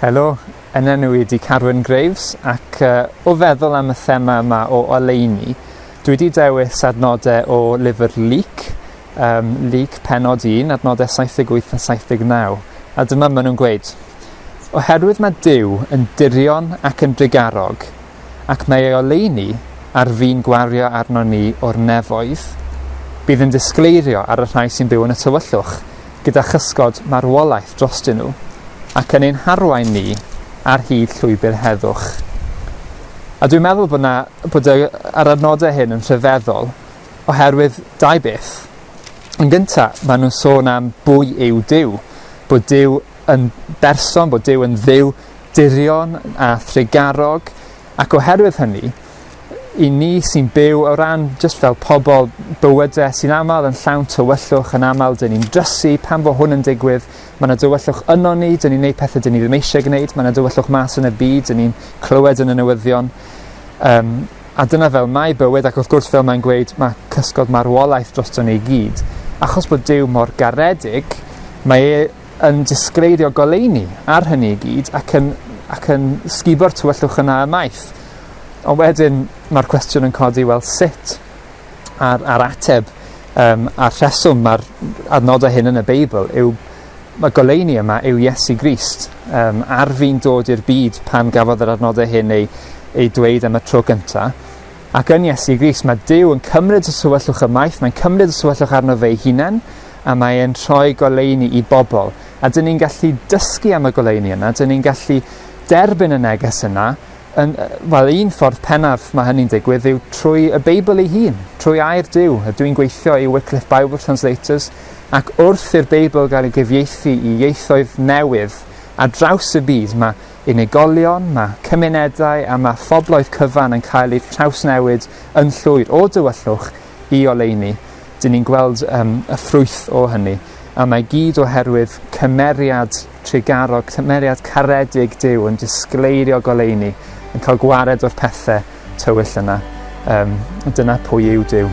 Helo, yn enw i di Carwyn Graves ac uh, o feddwl am y thema yma o oleini, dwi wedi dewis adnodau o lyfr Leek, um, Leek penod 1, adnodau 78 a 79, a dyma maen nhw'n gweud. Oherwydd mae Dyw yn dirion ac yn drigarog, ac mae ei oleuni ar fin gwario arnon ni o'r nefoedd. Bydd yn disgleirio ar y rhai sy'n byw yn y tywyllwch gyda chysgod marwolaeth drostyn nhw, ac yn ein harwain ni ar hyd llwybr heddwch. A dwi'n meddwl bod, na, bod y, yr adnodau hyn yn rhyfeddol oherwydd dau beth. Yn gyntaf, maen nhw'n sôn am bwy yw Dyw, bod Dyw yn berson, bod Dyw yn ddiw, dirion a thrugarog ac oherwydd hynny i ni sy'n byw o ran jyst fel pobl bywyde sy'n aml yn llawn tywyllwch yn aml dyn ni'n drysu pan fo hwn yn digwydd mae yna dywyllwch yno ni dyn ni'n gwneud pethau dyn ni ddim eisiau gwneud mae yna dywyllwch mas yn y byd dyn ni'n clywed yn y newyddion um, a dyna fel mae bywyd ac wrth gwrs fel mae'n gweud mae cysgod marwolaeth drosto ni i gyd achos bod Dyw mor garedig mae e yn disgleirio goleuni ar hynny i gyd ac yn, ac yn sgubo'r tywyllwch yna ymaith. Ond wedyn mae'r cwestiwn yn codi, wel sut? A'r, ar ateb um, a'r rheswm mae'r adnodau hyn yn y Beibl yw mae goleuni yma yw Iesu Grist. Um, ar fi'n dod i'r byd pan gafodd yr adnodau hyn ei, ei dweud am y tro gyntaf, Ac yn Iesu Grist, mae Duw yn cymryd y tywyllwch ymaith, mae'n cymryd y tywyllwch arno fe'i hunain, a mae e'n rhoi goleuni i bobl. A dyn ni'n gallu dysgu am y goleuni yna, dyn ni'n gallu derbyn y neges yna, yn, wel, un ffordd pennaf mae hynny'n digwydd yw trwy y Beibl ei hun, trwy air Duw. A dwi'n gweithio i Wycliffe Bible Translators, ac wrth i'r Beibl gael ei gyfieithu i ieithoedd newydd ar draws y byd, mae unigolion, mae cymunedau a mae phobloedd cyfan yn cael eu trawsnewid yn llwyr o dywyllwch i oleuni. Dyn ni'n gweld um, y ffrwyth o hynny, a mae gyd oherwydd cymeriad trugarog, cymeriad caredig Dyw yn disgleirio goleuni, yn cael gwared o'r pethau tywyll yna. Um, dyna pwy yw Dyw.